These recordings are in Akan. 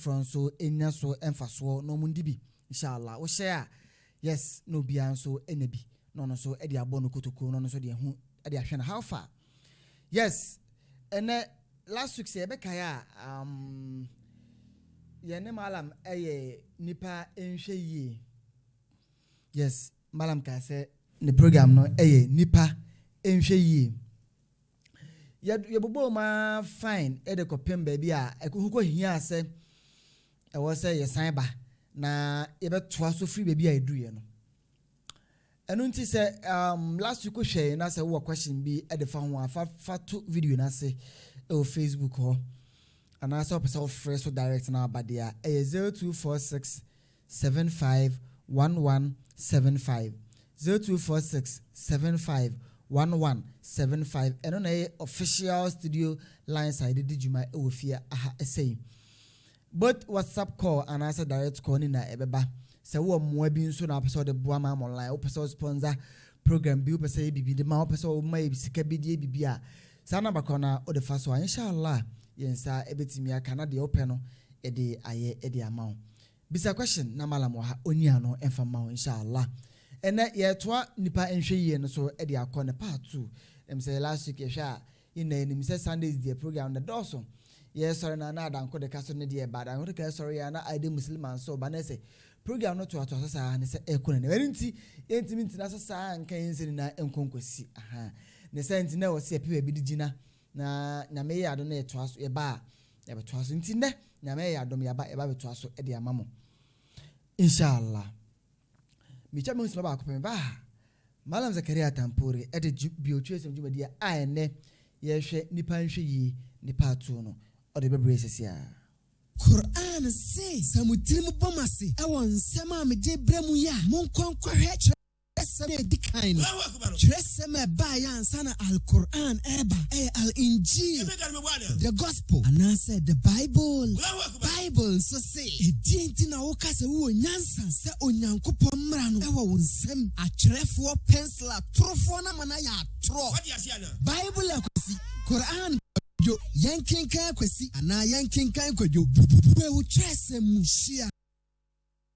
foforɔ nso nya so mfasoɔ na wɔndi bi inshallah wohyɛ a yes na obiara nso nya bi na ɔno nso de abɔ no kotokuro na ɔno nso de ɛho de ahwɛ no how far yes ɛnɛ last week sɛ yɛbɛkae a um, yɛne malam ɛyɛ nipa nhwɛ yie yes malam kaa sɛ ne program no ɛyɛ nipa nhwɛ yie Yɛbobɔɔ mu ara fann de kɔpem baabi a ɛho kɔhiaa sɛ ɛwɔ sɛ yɛsan ba na yɛbɛtoa so firi baabi a yɛduruiɛ no. Ɛno nti sɛ um, last week wohwɛe na sɛ wowɔ question bi de fa ho a fa fa to video no ase wɔ Facebook hɔ anaasɛ wopɛ sɛ wofrɛ so direct na aba deɛ a ɛyɛ 0246 seven five one one seven five zero two four six seven five one one seven five ɛno na ɛyɛ official studio lines a yɛde di dwuma wɔ fie aha sɛyi both whatsapp call anaasɛ direct call ne na ɛbɛba sɛ wowɔ mmoa bi nso na wopɛ sɛ wode boa ma ama online wopɛ sɛ sponsor program bi wopɛ sɛ yɛ biribi de ma wopɛ sɛ woma yɛ sika bi de yɛ biribi a saa namba korɔ no a wode fa so a inshallah yɛn nsa ɛbɛtumi aka na deɛ wopɛ no ɛde ayɛ ɛde ama wo Bisa question na malam wɔ ha ɔnyi ano mfa mma wo inshallah. Ɛnɛ yɛretoa nnipa nhwɛ yie no so de akɔ ne part two. Ɛm sɛ last week yɛhwɛ a yɛn nyinaa yɛnim sɛ Sundays deɛ program no dɔɔso. Yɛresɔre no a na adanko de ka so ne deɛ ba adanko de ka sɔre yɛ a na Aide Muslima nso ba na ɛsɛ program no toatoa so saa ne sɛ ɛkɔ n'anim. Ɛno nti yɛntumi ntena ase saa nka yɛn nsɛm nyinaa nkɔ nkɔsi. Ahaa. Ne saa nti na ɛwɔ sɛ yɛpɛ baabi de gyina. Na Nyame yɛ adom na yɛtoa so, yɛba a, yɛbɛtoa so. Nti nnɛ, Nyame ayɛ adom, yɛaba, yɛba abɛtoa so de ama mo. Inshallah. Metwa me ho simma baako pɛ, mebaa ha. Mallam Zakaria Tampori de dwu, biotwerɛsɛm dwumadie a ɛnnɛ yɛhwɛ Nnipa Nhwɛ Yie ne Part Two no, ɔde bɛbrɛ yɛ sɛsi ara. Qur'aan se, Sɛ mo tirim bɔ mo ase wɔ nsɛm a megye brɛ mo yi a, monkɔ nkɔhwɛ kyerɛ. Twerɛsɛm a ɛdi kan no, twerɛsɛm a ɛbaeɛ ansa na Al-Qur'aan reba, ɛyɛ Al-Injeel, The Gospel, anaasɛ The Bible. Bible nso se, Ɛdeɛn nti na woka sɛ wowɔ nyansa sɛ Onyankopɔn mmara no wɔ wo nsam? Atwerɛfoɔ, pɛnsel atorofoɔ no ama no ayɛ atorɔ. Bible akwasi, Qur'aan kwadwo, yɛnkenkan akwasi anaa yɛnkenkan kwadwo, bubu a ɛwɔ twerɛsɛm mu hyia.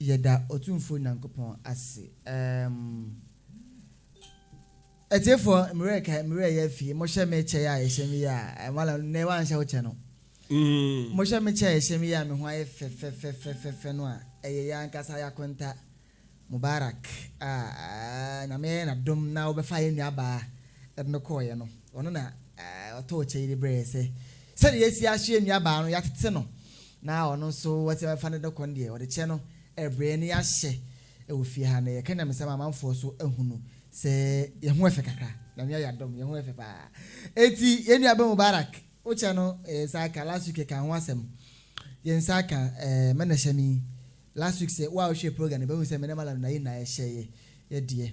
Yɛda Otumfoɔ Nyankopɔn ase. Ɛɛm. Atiefoɔ, mmerɛ ɛka, mmerɛ ɛyɛ afie, mohyɛ me kyɛ yi a yɛhyɛ me yi a, ɛɛ, Mala, nnɛ woanhyɛ wo kyɛ no. Mohyɛ me kyɛ a ɛhyɛ me yi a me ho ayɛ fɛfɛfɛfɛfɛfɛ no a, ɛyɛ yɛn ankasa yɛn akonta, Mubarak, a, ɛɛ, Nyame ayɛ no adom na wɔbɛfaa yɛn nuabaa de no kɔeɛ no. Ɔno na, ɛɛ, ɔtɔɔ kyɛ yi de brɛɛ yɛn sɛ, sɛdeɛ yɛasi aso yɛn nuabaa no, yɛatete no. na ɔno nso wɔsi bɛfa no de kɔ no deɛ ɔde kyɛ no ɛbrɛ ne yɛahyɛ ɛwɔ fie ha na yɛka nyamesɛm a amanfoɔ so ahunu sɛ yɛn ho ɛfɛ kakra nyame ayɛ adom yɛn ho ɛfɛ paa eti yɛn nua bɛ Mubarak wokyɛ no yɛn nsa aka last week yɛka ho asɛm yɛn nsa aka ɛɛ mɛ na hyɛ mi last week sɛ wo a wohwɛ program no bɛhu sɛ mɛ ne malam na yɛ nyinaa yɛhyɛ yɛ yɛ deɛ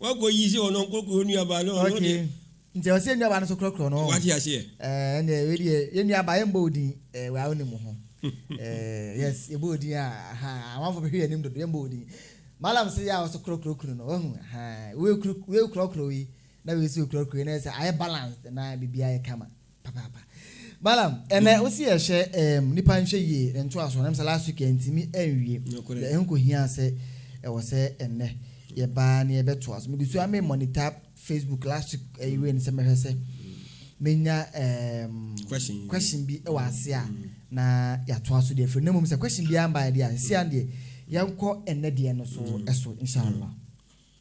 Wakɔ yi sɛ ɔno nkorɔkorɔ nuabaa no ɔno deɛ. Okay nti ɛwɔ sɛ yɛn nuabaa no nso korɔkorɔ no ɔho. Wate aseɛ. Ɛɛ ɛnneɛ wei deɛ yɛn nuabaa yɛn mbɔ odin ɛɛ wei a ɔnim ho ɛɛ yes yɛ bɔ odin a ahaa amanfoɔ bɛhwɛ yɛn anim dodo yɛn mbɔ odin Mallam sɛ yɛ a ɔso korɔkorɔ kunu no wahu ahaa wei kuru wei korɔkorɔ wei na wei nso korɔkorɔ wei na yɛ sɛ ayɛ balanced na biribiara yɛ kama. Papaapa. Balaam, ɛnɛ wo se yɛhyɛ ɛɛm nipa nhwɛ yie ntoasoɔ nam sɛ last week yɛntumi ɛnwie. Nokorɛ. Yɛ ɛho kɔhiaa sɛ ɛwɔ sɛ ɛnɛ yɛbaa ne yɛbɛtoa so. Megu so ara me monitor Facebook last week ɛyi wei no sɛ mɛhwɛ sɛ menya ɛɛm Question yi. question bi ɛwɔ ase a na yɛatoa so deɛ afiri no. Na mmom sɛ question biara mbaeɛ deɛ a, seesei ara no deɛ yɛnkɔ ɛnɛ deɛ no so ɛso inshallah.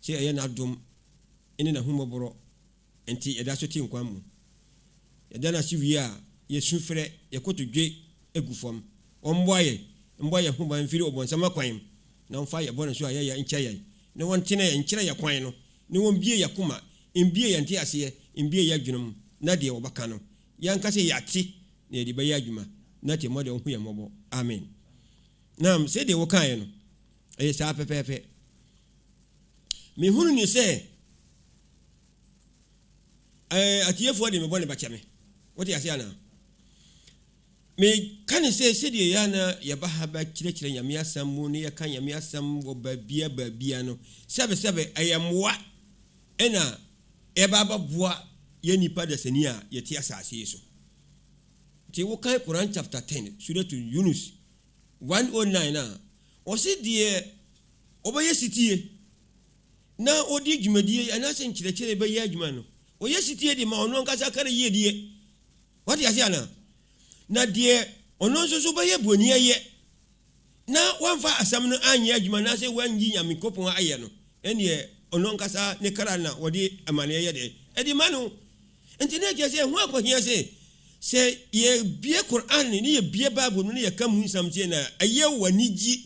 Sɛ ɛyɛ N'adom ne N'ahummɔborɔ nti yɛda so te nkwa mu. Yɛda No ase wie a, yɛsu frɛ, yɛn kotodwe gu fam. Ɔmmoa yɛn mmɔ yɛn ho ban mfiri ɔbonsam akwan mu, na ɔmfa yɛn bɔne so ayɛyɛ nkyɛ yɛn, na ɔntene yɛn nkyerɛ yɛn kwan no, na ɔmbue yɛn akoma, mbue yɛn nteaseɛ, mbue yɛn adwene mu, na deɛ wɔbɛka no, yɛnka sɛ yɛate na yɛde bɛyɛ adwuma, na atirimuɔdɛ ɔnhu yɛn mmɔbɔ. Amen. Naam, sɛdeɛ wokaeɛ no, ɛyɛ saa pɛpɛɛpɛ. Mehunu no sɛ ɛɛ atiefoɔ de me bɔne bɛkyɛ me. Wote ase anaa? Meka no sɛ sɛdeɛ yɛ na yɛba ha bɛkyerɛkyerɛ Nyame asɛm mu ne yɛka Nyame asɛm wɔ baabia baabia no, sɛbesɛbe ɛyɛ mmoa ɛna ɛba abɛboa yɛ nnipa dasani a yɛte asase yi so. Nti wokan Quran chapter 10 Surat Yunus one oh nine a, ɔse deɛ ɔbɛyɛ setie na ɔde dwumadie anaasɛ nkyerɛkyerɛ bɛyɛ adwuma no, ɔyɛ setie de ma ɔno ankasa kra yiedie. Wate aseɛ anaa? Na deɛ ɔno nso so bɛyɛ boniayɛ na wamfa asɛm no anyɛ adwuma anaasɛ wannyi Nyankopɔn ayɛ no, ɛnneɛ ɔno ankasa ne kra na wɔde amaneɛ yɛ dɛn? Ɛde ma no. Enti na ɛkyerɛ sɛ ɛho akɔhia sɛ sɛ yɛbue Qur'aan no na yɛbue Bible no na yɛka mu nsɛm kyerɛ no a, ɛyɛ wo anigye.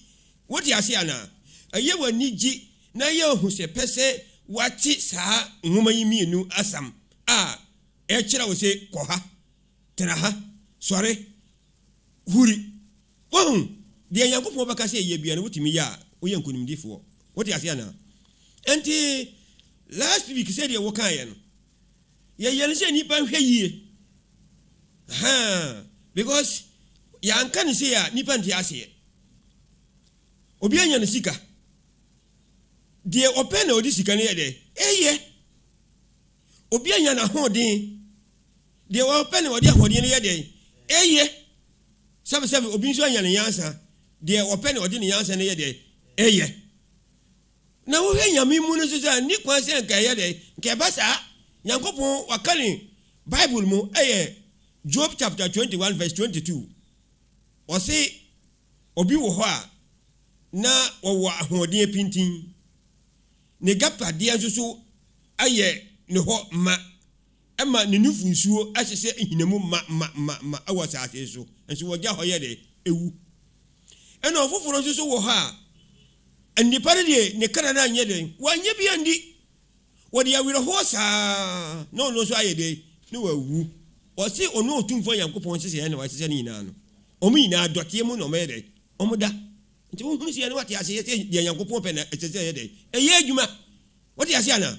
Wote ase anaa? Ɛyɛ wo anigye na ɛyɛ wo ahosɛpɛ sɛ woate saa nwoma yi mmienu asɛm a ɛkyerɛ wo sɛ kɔ ha, tena ha, sɔre, huri. Wahu? Deɛ Nyankopɔn bɛka sɛ yɛ biara no, wotumi yɛ a, woyɛ nkonimdifoɔ. Wote ase anaa? Enti last week sɛdeɛ wokaeɛ no, Yɛyɛno sɛ nnipa nhwɛ yie ahaa because yɛanka no sei a nnipa nte aseɛ. Obi anya ne sika. Deɛ ɔpɛ na ɔde sika no yɛ dɛ ɛyɛ. Obi anya n'ahoɔden. Deɛ ɔpɛ na ɔde ahoɔden no yɛ dɛ ɛyɛ. Sɛbesɛbe obi nso anya ne nyansa. Deɛ ɔpɛ na ɔde ne nyansa no yɛ dɛ ɛyɛ. Na wohwɛ Nyame mu no so sɛ nni kwan sɛ nka ɛyɛ dɛn? Nka ɛba saa? Nyankopɔn waka ne bible mu ɛyɛ Job chapter 21 verse 22 ɔse obi wɔ hɔ a na ɔwɔ ahoɔden pintinn, ne gaptadeɛ nso so ayɛ ne hɔ ma. Ɛma ne nufu nsuo hyehyɛ nhinamu ma ma ma ma wɔ asase so, nso wɔgya hɔ yɛ dɛ, ɛwu. Ɛna ɔfoforɔ nso so wɔ hɔ a, nnipa no deɛ ne kra no anyɛ dɛn? Wanyɛ bi andi. Wɔde awerɛhoɔ saa na ɔno nso ayɛ dɛn? Na wawu. Wɔse ɔno Otumfoɔ Nyankopɔn nhyehyɛeɛ na wahyehyɛ ne nyinaa no, wɔn nyinaa dɔteɛ mu na wɔyɛ dɛn? Wɔda. Nti wohunu sei a na wate aseɛ sɛ deɛ Nyankopɔn pɛ na ɛsɛ sɛ ɛyɛ dɛn? Ɛyɛ adwuma. Wote aseɛ anaa?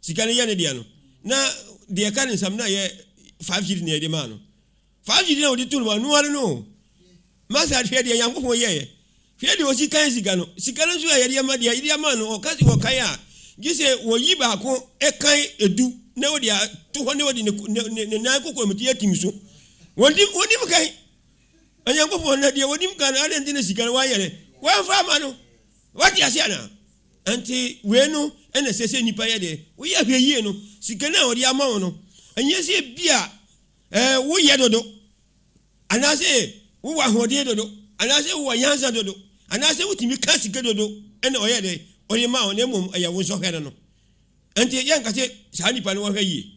Sika no yɛ ne deɛ no, na deɛ ɛka ne nsam no na ɛyɛ five cedi na yɛde maa no. Five cedi na wɔde too no hɔ, ɛno ara no o. Master, hwɛ deɛ Nyankopɔn yɛeɛ. Hwɛ deɛ ɔsi kan sika no. Sika no nso a yɛde ama deɛ, yɛde ama no, ɔka sɛ wɔkan a, gye sɛ wɔyi baako kan edu na wɔde ato hɔ na wɔde ne, ne, ne, ne nan kokoamti atim so. Wɔnim, wɔnim kan. Onyankopɔn na deɛ wɔnim kan no, adɛn nti na sika no wɔayɛ dɛ? Wɔamfa ama no. Wate ase anaa? Enti wei no na ɛsɛ sɛ nnipa yɛ dɛn? Woyɛ ahwɛyie no, sika no a wɔde ama wo no, ɛnyɛ sɛ ebia eh, woyɛ dodo, anaasɛ wowɔ ahoɔden dodo, anaasɛ wowɔ nyansa dodo, anaasɛ wotumi ka sika dodo na ɔyɛ dɛn? Ɔde ma wo, na mmom ɛyɛ wo nsɔhwɛ no no. Enti yɛnka sɛ saa nnipa no wɔhwɛ yie.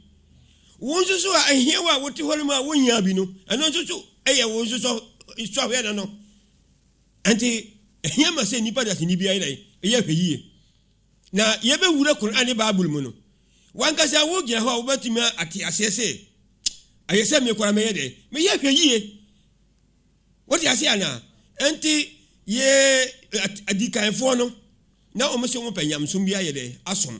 Wo nso so a ɛhia wo a wote hɔ no mu a wonyaa bi no, ɛno nso so ɛyɛ wo nso sɔhwɛ no no. Enti, ehia ma sɛ nnipa dasani biara yɛ dɛn? Yɛ ahwɛyiye. Na yebewura Kur'aan ne Bible mu no, w'ankasa wugyina hɔ a wubetumi ate aseɛ sɛ, Ɛyɛ sɛ me koraa mɛyɛ dɛn? Meyɛ ahwɛyiye. Wote aseɛ anaa? Enti, yɛn adikanfoɔ no, na wɔn se wɔpɛ nyamesom bi ayɛ dɛn? Asom.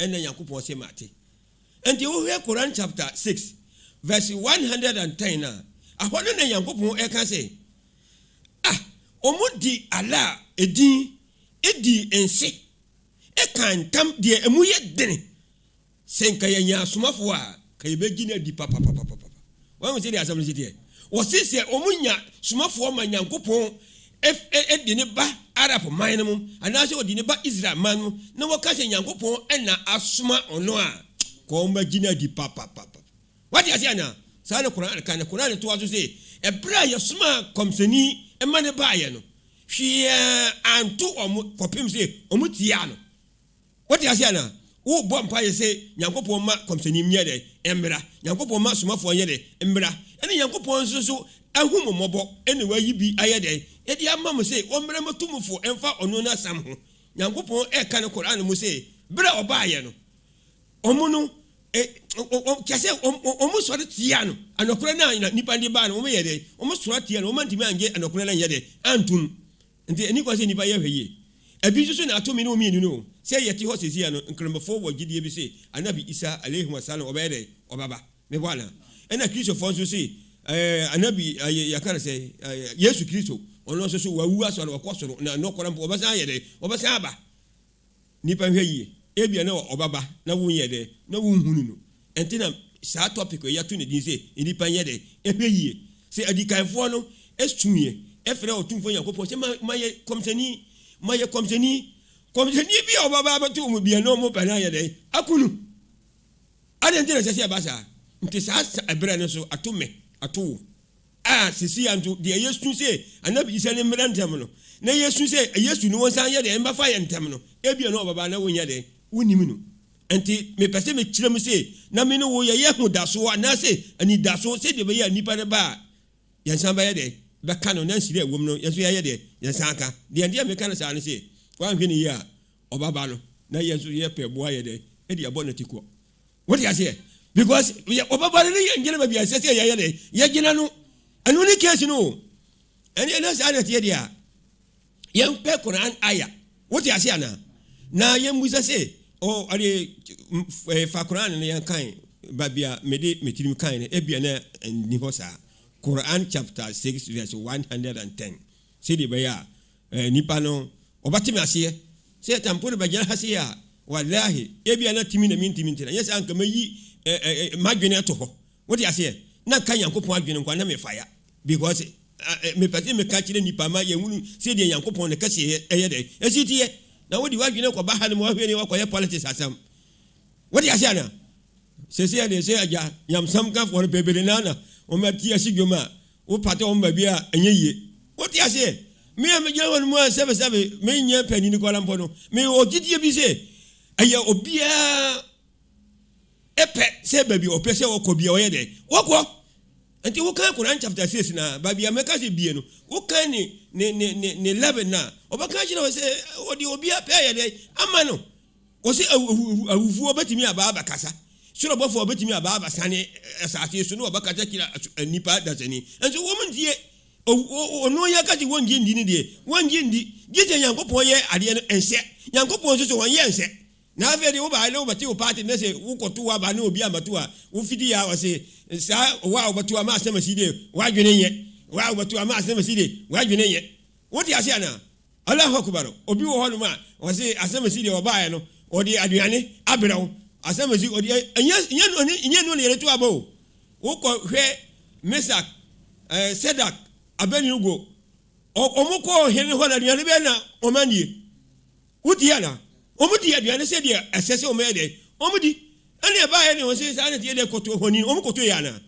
na Nyankopɔn se mate. Enti wohwɛ Quran chapter six verse one hundred and ten a, ahɔ no na Nyankopɔn reka se, Ah, wɔn de Allah edin dii nse, ekaa ntam deɛ emu ye dene, se nka yɛnyaa Asomafoɔ a ka yebegye no adi papapapapa. Wahu sɛnea asɛm no si teɛ? Wɔse sɛ wɔnya somafoɔ ma Nyankopɔn de no ba Arab man no mu, anaasɛ ɔde no ba Israel man no mu, na wɔka sɛ Nyankopɔn na asoma ɔno a, ka wɔagye no adi papapapa. Wate aseɛ anaa? Saa na Qur'aan ka, na Qur'aan toa so se, Ɛberɛ a Yɛsomaa Kɔmsɛni ma no baeɛ no, hwee anto wɔn kɔpem se wɔtiaa no. Wote aseɛ anaa? Wobɔ mpaeɛ sɛ, Nyankopɔn ma kɔmhyɛni nyɛ dɛn? Mmra. Nyankopɔn ma somafoɔ nyɛ dɛn? Mmra. Ɛna Nyankopɔn nso so ahu mo mmɔbɔ na wayi bi ayɛ dɛn? Ɛde ama mo sɛ wɔmmrɛ mo atumfoɔ mfa ɔno n'asɛm ho. Nyankopɔn ɛka no Qur'aan mu sɛ, berɛ a ɔbaeɛ no, wɔn no, wɔn, kyerɛ sɛ, wɔn, wɔn sɔre tiaa no, anɔkorɛ no a na nnipa no de baa no, wɔn yɛɛ dɛn? Wɔn sɔre tiaa no, wɔn antumi annye anɔkorɛ no anyɛ dɛn? Antom. Enti enni kwa sɛ nnipa yɛ ahwɛ yie. Ebi nso so na ato me ne wo mmienu no o. Sɛɛ yɛte hɔ seesei ara no, Nkramofoɔ wɔ gyedie bi se Anabi Isa, Alaihi Wasalam, ɔbɛyɛ dɛn? Ɔbɛba. Me hɔ anaa? Ɛna Kristofoɔ nso se, eh, Anabi, eh, yɛka no sɛn, eh, Yesu Kristo, ɔno nso so, wawu asoa no, wakɔ soro, na nokorɛ mpo, ɔbɛsan ayɛ dɛn? Ɔbɛsan aba. Nipa nhwɛ yie, ebia na ɔba ba na wo nyɛ dɛ na wo nhunu no, ɛnti na saa topic yi yɛato ne din sɛ nnipa nyɛ dɛ nhwɛ yie. Sɛ adikanfoɔ no suiɛ ɛfrɛ Otumfoɔ Nyankopɔn sɛ ma ma yɛ kɔmhyɛni, ma yɛ kɔmhyɛni, kɔmhyɛni bi a ɔba ba abɛto wɔn bia na wɔn pɛ na ayɛ dɛ ako no. Adɛn nti na ɛsɛ sɛ ɛba saa? Nti saa ɛberɛ no nso ato me, ato wo. A Seesei ara nso, deɛ yɛsu sɛ anna bɛyi sɛ ne mmra ntɛm no, na yɛsu sɛ Yesu no ɔnsan nyɛ dɛn mmɛfa yɛn ntɛm no, ebia na ɔbɛba na wonyɛ dɛn? Wonnim no. Ɛnti, mepɛ sɛ mekyerɛ mu sɛ, na me ne wo yɛyɛ ahodasoɔ anaasɛ anidasoɔ sɛdeɛ ɛbɛyɛ a nipa no ba a, yɛnsan bɛyɛ dɛn? Bɛka no na nhyira a ɛwom no, yɛn nso yɛayɛ dɛn? Yɛnsan ka. Deɛ nti a meka no saa ne sɛ, woanhwɛ no yie a, ɔbɛba no na yɛn nso yɛpɛ boa yɛ dɛn? De abɔ no atikɔ. Wote aseɛ? Because yɛ ɔbɛba no ne yɛn gyina baabi a ɛsɛ sɛ yɛyɛ dɛ yɛgyina no. Ɛno ne case no o. Ɛne na saa na ɛteɛ deɛ a yɛmpɛ Quran aya. Wote aseɛ anaa? Na yɛmmusa sɛ oh, ade eh, fa Quran no yɛn kan baabi a mede me tirim kan no ebia na ɛnni hɔ saa. Quran chapter 6 verse 110 sɛdeɛ ɛbɛyɛ a Eh, nnipa no, wɔbɛte me aseɛ. Sɛ Tampone bɛgyina ha sei a, wallahi, ebia na tumi na mentumi nti na, nyɛ sɛ anka mɛyi eh, eh, eh, m'adwene ato hɔ. Wote aseɛ? Na nka Nyankopɔn adwene nko a na mefaya. Because eh, eh, mepɛ sɛ meka kyerɛ nnipa ma yɛhunu sɛdeɛ Nyankopɔn ne kɛseɛ ɛyɛ dɛn, ɛsi teɛ. Na wode w'adwene kɔba ha no ma wahwɛ ne wakɔyɛ politics asɛm. Wote aseɛ anaa? Sɛsɛ deɛ sɛ agya nyamsamkafoɔ no bebree no na wɔn ati asi dwom a Wopata wɔn baabi a ɛnyɛ yie. Wote aseɛ? Me a megyina hɔ no mu a sɛbesɛbe menyɛ panyin koraa mpo no, mewɔ gyidie bi sɛ ɛyɛ obiara pɛ sɛ baabi a ɔpɛ sɛ ɔkɔ bia ɔyɛ dɛn? Ɔkɔ. Nti wokan Koran chapter six no a, baabi a mɛka sɛ bie no, wokan ne ne ne ne ne eleven no a, ɔbɛka akyerɛ wo sɛ ɔde obiara pɛ ayɛ dɛn? Ama no. Ɔse awufoɔ bɛtumi aba abɛkasa, soro bɔfoɔ bɛtumi aba abɛsane asase so na wɔbɛkasa kyerɛ nnipa dasani. Nso wɔn ntie. Ɔno yi aka sɛ wɔngye ndi no deɛ, wɔngye ndi, gye sɛ Nyankopɔn yɛ adeɛ no nhyɛ. Nyankopɔn nso so ɔnyɛ nhyɛ. Na afei deɛ wobaeɛ na wobɛte wo party na sɛ wokɔto aba na obi ammɛto a, wofidi yɛ a ɔse saa wo a wobɛto ama asɛm asi deɛ, w'adwene nyɛ. Wo a wobɛto ama asɛm asi deɛ, w'adwene nyɛ. Wote ase anaa? Allahu Akbar, obi wɔ hɔnom a ɔse Asɛmasi deɛ ɔbaeɛ no ɔde aduane abrɛ wo, Asɛmasi ɔde ɛnyɛ ɛnyɛ nnuane ɛnyɛ nnuane yɛde to aba o, wokɔ hwɛ Mesak eh, Sedak, Abednego ɔ, wɔn kɔ ɔhene hɔ no aduane bɛyɛ na wɔn anie? Wotie anaa? Wɔn di aduane sɛdeɛ ɛsɛ sɛ wɔn yɛ dɛn? Wɔn di. Ɛne ɛbaeɛ ne wɔn se saa na ɛteɛ deɛ kɔto honi no, wɔn kɔto yɛ anaa?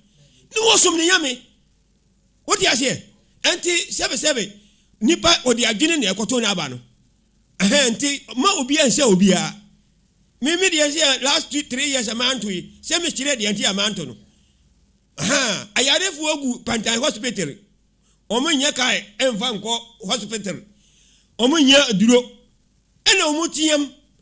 Ne wɔsom ne nyame. Wote aseɛ? Ɛnti sɛbesɛbe nipa ɔde adwene na ɛkɔto no aba no. Ɛhɛn, nti ma obiara nhyɛ obiara. Me me deɛ sɛ last two three years a manto yi, sɛ me kyerɛ deɛ nti a manto no. Ahaa, ayarefoɔ gu pantan hospital, wɔn nyɛ kae ɛnfa nkɔ hospital, wɔn nyɛ aduro, ɛna wɔn team.